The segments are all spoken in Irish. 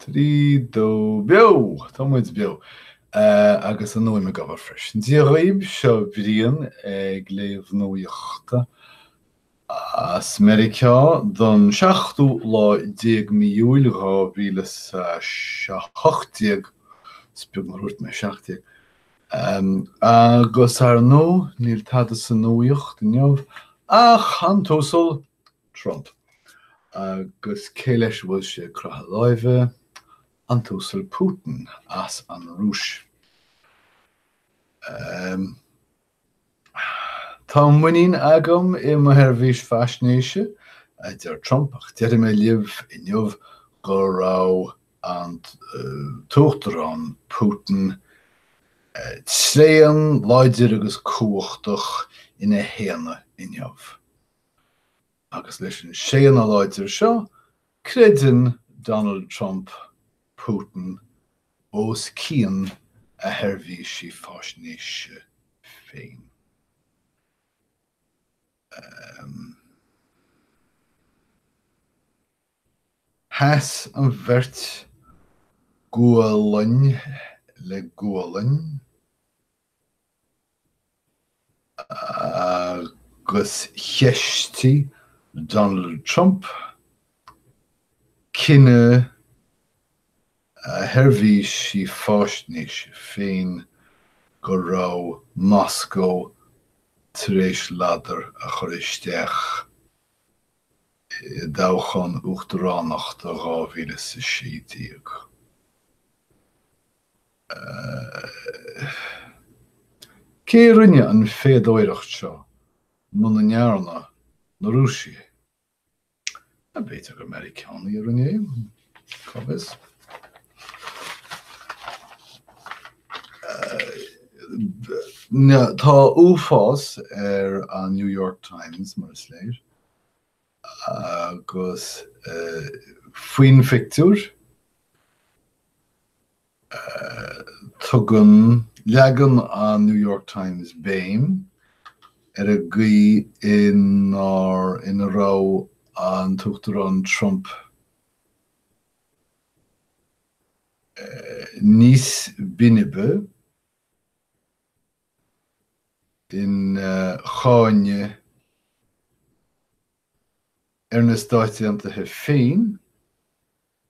Trí, dó, beo! Tá muid beo! Agus an fhuaim ag obair freisin. Dia dhaoibh, seo Brian ag léamh nuaíochta as Meiriceá don seachtú lá déag mí Iúil dhá mhíle is a hocht déag, is beag nár dhúirt mé seacht déag! agus ar ndóigh níl tada sa nuaíocht inniu ach an tUasal Trump. Agus cé leis a bhfuil sé ag croitheadh láimhe? An tUasal Putin as an Rúis. Tá muinín agam i mo sheirbhís faisnéise, a deir Trump, ach déarfaidh mé libh inniu go raibh an tUachtarán Putin tréan, láidir agus cumhachtach ina shéanadh inniu. Agus leis an séanadh láidir seo, creideann Donald Trump Putin os cionn a sheirbhísí faisnéise féin. Sheas an bheirt gualainn le gualainn. agus cheistigh Donald Trump cinneadh a sheirbhísí faisnéise féin go raibh Moscó tar éis ladar a chur isteach i dtoghchán uachtaránachta 2016. Cé a rinne an phéadóireacht seo muna ndearna na Rúisigh é? Nó b'fhéidir gur Meiriceánaigh a rinne é, cá bhfios. Tá uafás ar an New York Times, mar is léir, agus faoin phictiúr. Tugann leagan an New York Times béim ar an gcaoi ina raibh an tUachtarán Trump níos binbe ina cháineadh ar na Stáit Aontaithe féin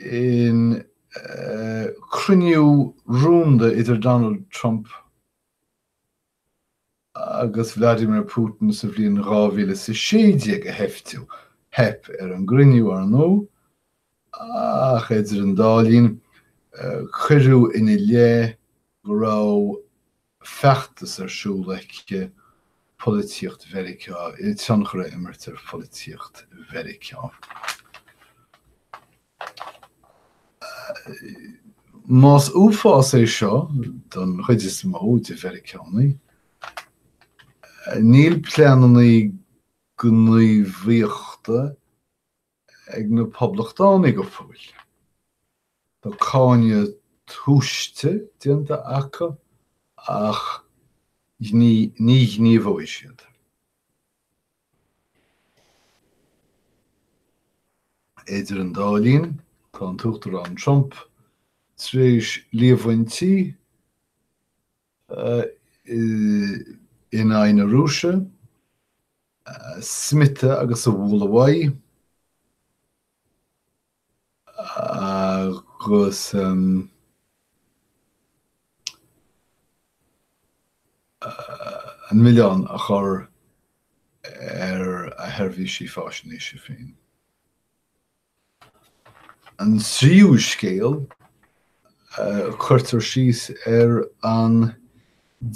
chun cruinniú rúnda idir Donald Trump agus Vladimir Putin sa bhliain dhá mhíle is a sé déag a sheiftiú. Theip ar an gcruinniú, ar ndóigh, ach idir an dá linn, cuireadh ina leith go raibh, feachtas ar siúl aici polaitíocht Mheiriceá, le tionchar a imirt ar pholaitíocht Mheiriceá. Más uafás é seo don chuid is mó de Mheiriceánaigh, níl pleananna gníomhaíochta, ag na poblachtánaigh go fóill. Tá cáineadh tomhaiste déanta acu ach ní ghníomhóidh siad. Idir an dá linn, tá an tUachtarán Trump tar éis líomhaintí. in aghaidh na Rúise, a smiotadh agus a bhualadh uaidh, agus an milleán a chur ar a sheirbhísí faisnéise féin. an tríú scéal, cuirtear síos ar an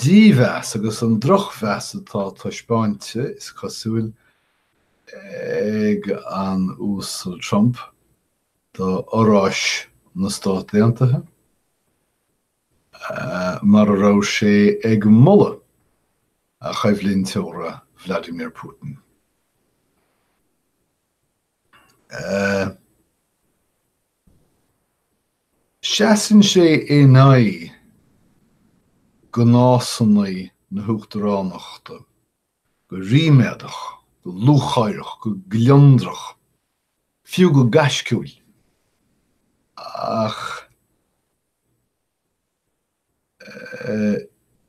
dímheas agus an drochmheas atá taispeáinte, is cosúil, ag an Uasal Trump do fhorais na Stát Aontaithe, mar a raibh sé ag moladh a choimhlinteora Vladimir Putin. Seasann sé in aghaidh gnásanna na huachtaránachta go ríméadach, go lúcháireach, go gliondrach, fiú go gaisciúil, ach.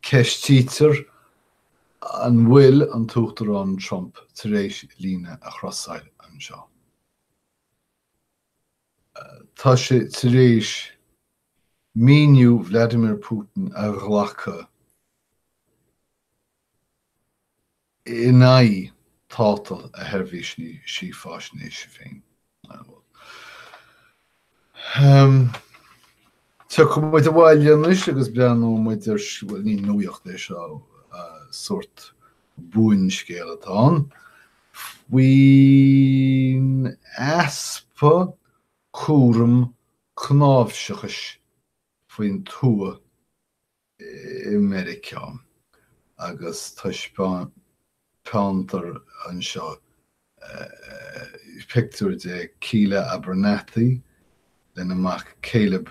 Ceistítear an bhfuil an tUachtarán Trump tar éis líne a chrosáil anseo. Tá sé tar éis míniú Vladimir Putin a ghlacadh. in aghaidh tátal a sheirbhísí faisnéise féin. Tiocfaidh muid abhaile anois agus breathnóimid ar, bhuel, ní nuaíocht é seo, sórt buanscéal atá ann, faoin easpa cúraim cnáimhseachais faoin tuath i Meiriceá agus taispeántar anseo pictiúr de Keela Abernathy lena mac Caleb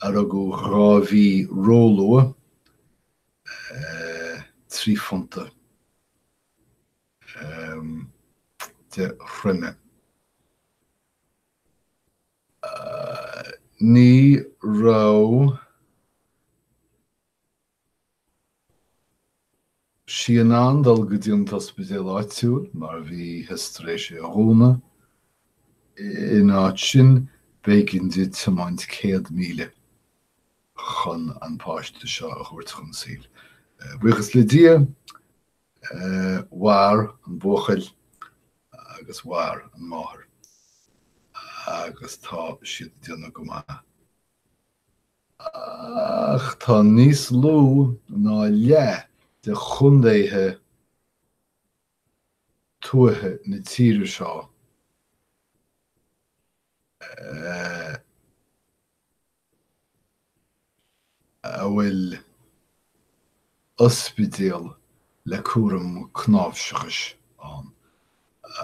a rugadh dhá mhí róluath, trí phunta de throime. Ní raibh sí in ann dul go dtí an t-ospidéal áitiúil mar bhítheas tar éis é a dhúnadh. In áit sin, b'éigean di tiomáint céad míle chun an páiste seo a thabhairt chun saoil. Buíochas le Dia, mhair an buachaill agus mhair an máthair agus tá siad ag déanamh go maith. Ach tá níos lú ná leath de chontaetha tuaithe na tíre seo a bhfuil ospidéal le cúram cnáimhseachais ann,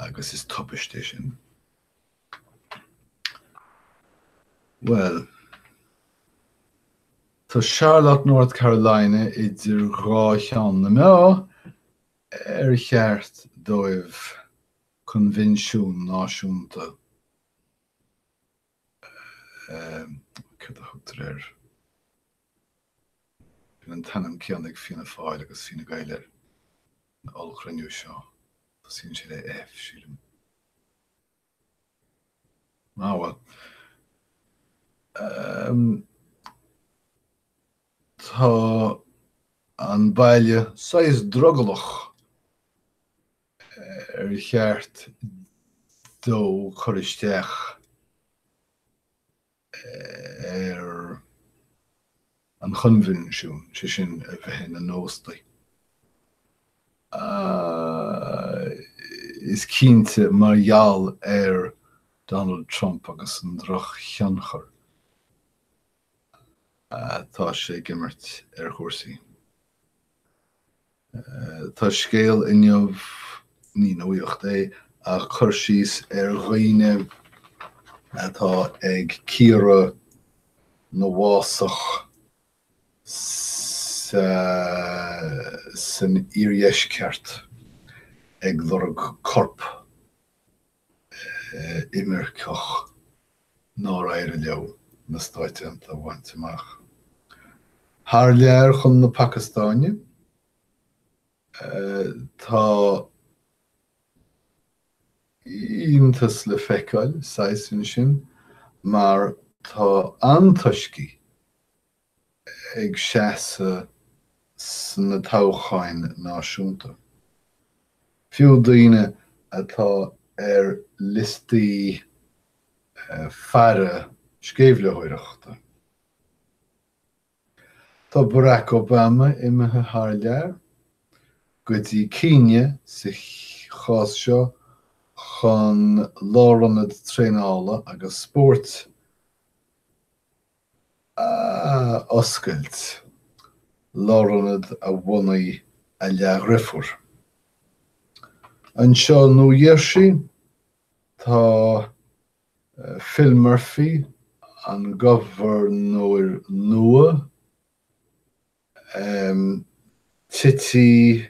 agus is tubaist é sin. Bhuel. Tá Charlotte, North Carolina idir dhá cheann na meá, ar cheart dóibh coinbhinsiún náisiúnta céard a thugtar air? Bíonn an t-ainm céanna ag Fianna Fáil agus Fine Gael ar an ollchruinniú seo. Tosaíonn sé le F, sílim. Ah bhuel. Tá an baile saghas drogallach. ar cheart dó cur isteach ar an choinbhinsiún, sé sin, a bheith ina n-óstaí. Is cinnte, mar gheall ar Donald Trump agus an drochthionchar atá sé ag imirt ar chúrsaí, Tá scéal inniu, ní nuaíocht é, ach cur síos ar dhaoine atá ag cíoradh na bhfásach san iardheisceart ag lorg corp imirceach nár éirigh leo na Stáit Aontaithe a bhaint amach. Thar lear chun na Pacastáine tá iontas le feiceáil, saghas, ansin mar tá antoiscigh ag seasamh sna toghcháin náisiúnta. Fiú daoine atá ar liostaí faire sceimhlitheoireachta. Tá Barack Obama imithe thar lear, go dtí Kenya sa chás seo, chun lárionad traenála agus spóirt a oscailt, lárionad a bhunaigh a leathdheirfiúr. Anseo i Nua-Gheirsí, tá Phil Murphy, an gobharnóir nua, Cití.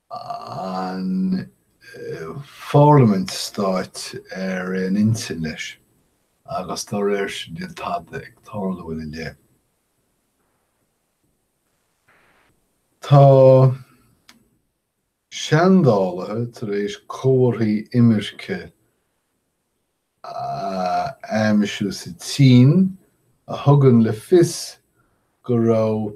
an pharlaimint stáit ar aon intinn leis agus dá réir sin níl tada ag tarlú go fóill ina leith. Tá seandálaithe tar éis comharthaí imirce a aimsiú sa tSín a thugann le fios go raibh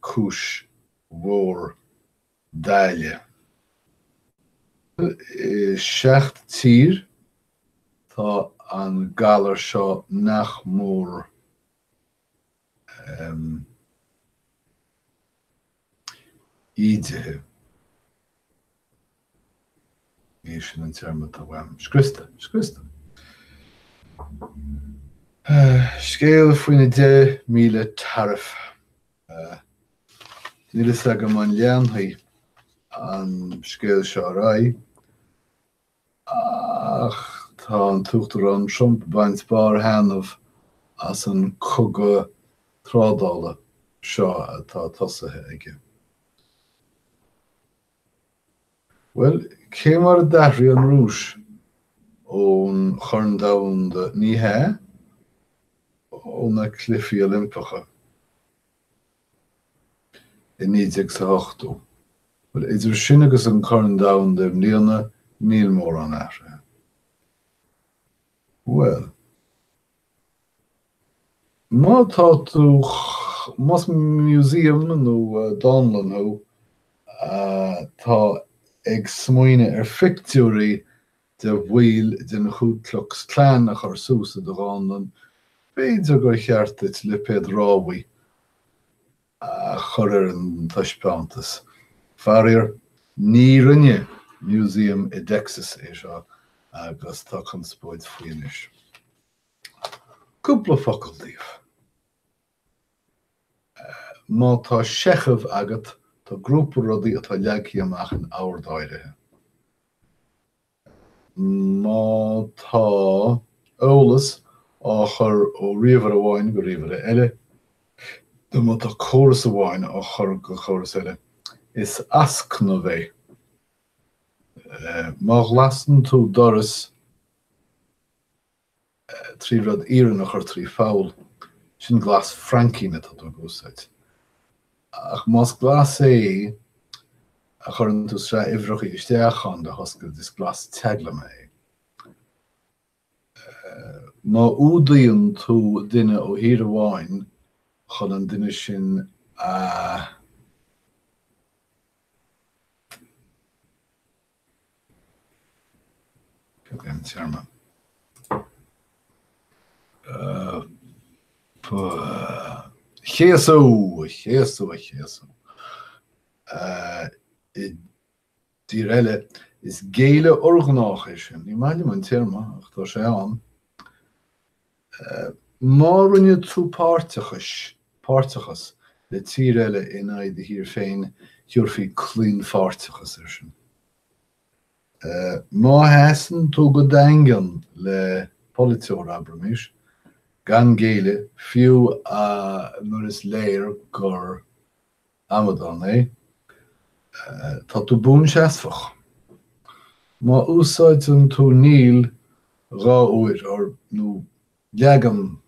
cúis mhór daille. I seacht dtír tá an galar seo nach mór ídithe. Ní hé sin an téarma atá uaim. Scriosta. Scriosta. Scéal faoina dheich míle taraif. Níl fhios agam an leanfaidh an scéal seo ar aghaidh ach tá an tUachtarán Trump ag baint barrthaitneamh as an cogadh trádála seo atá tosaithe aige. Bhuel, cé mar a d'athraigh an Rúis ón Chorn Domhanda, ní hea, ó na Cluichí Oilimpeacha, i naoi déag is a hochtó? Bhuel, idir sin agus an Corn Domhanda i mbliana, níl mórán athraithe. Bhuel. Má tá tú, más músaem nó dánlann thú, atá ag smaoineamh ar phictiúirí de bhaill den Ku Klux Klan a chur suas i do dhánlann, b'fhéidir gur cheart duit lipéad rabhaidh, a chur ar an taispeántas. Faraor, ní rinne músaem i dTexas é seo agus tá conspóid faoi anois. Cúpla focal daoibh. Má tá seicheamh agat, tá grúpa rudaí atá leagtha amach in ord áirithe. Má tá eolas á chur ó ríomhaire amháin go ríomhaire eile, nó má tá córas amháin á chur go córas eile, is ascnamh é. Má ghlasann tú doras, trí rud iarainn a chur trí pholl, sin glas fraincín atá tú ag úsáid. Ach más glas é a chuireann tú sraith uimhreacha isteach ann le hoscailt, is glas teaglama é. Má fhuadaíonn tú duine ó thír amháin chun an duine sin a. téarma? chéasadh, a chéasadh, a chéasadh. I dtír eile, is géilleadh urghnách é sin. Ní maith liom an téarma ach tá sé ann. Má roinneann tú páirteachais, páirteachas, le tír eile in aghaidh do thír féin, thabharfaí claonpháirteachas air sin. Má sheasann tú go daingean le polaiteoir, abraimis, gan géilleadh, fiú nuair is léir gur. Amadán é. Tá tú buanseasmhach. Má úsáideann tú níl dhá uair, or nó leagan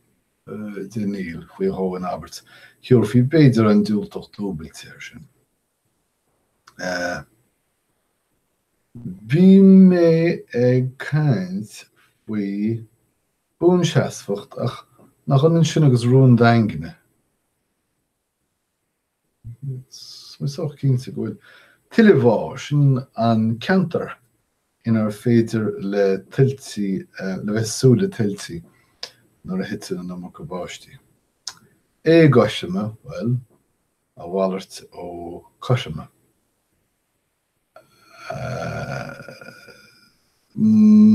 de níl faoi dhó in abairt, thabharfaí b'fhéidir an diúltach dúbailte air sin. Bhí mé ag caint faoi buanseasmhacht ach nach ionann sin agus rún daingne. Sách cinnte go bhfuil tuilemhá, sin an ceantar inar féidir le tuiltí, le bheith ag súil le tuiltí nuair a thiteann an iomarca báistí. Éagothroime, bhuel, a mhalairt ó cothroime.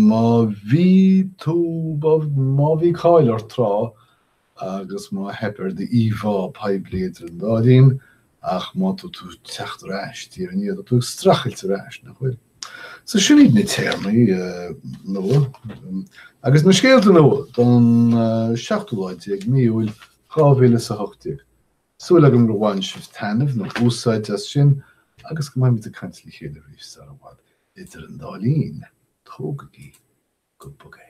Má bhí tú, má bhí cáil ort tráth agus má theip ar d'íomhá poiblí idir an dá linn ach má tá tú teacht ar ais diaidh ar ndiaidh tá tú ag streachailt ar ais, nach bhfuil? So sin iad na téarmaí nua agus na scéalta nua don 17ú lá mí Iúil 2018. Súil agam gur bhain sibh taitneamh nó úsáid as sin agus go mbeimid ag caint le chéile arís sara bhfad. Idir an dá linn, tógaigí go bog é.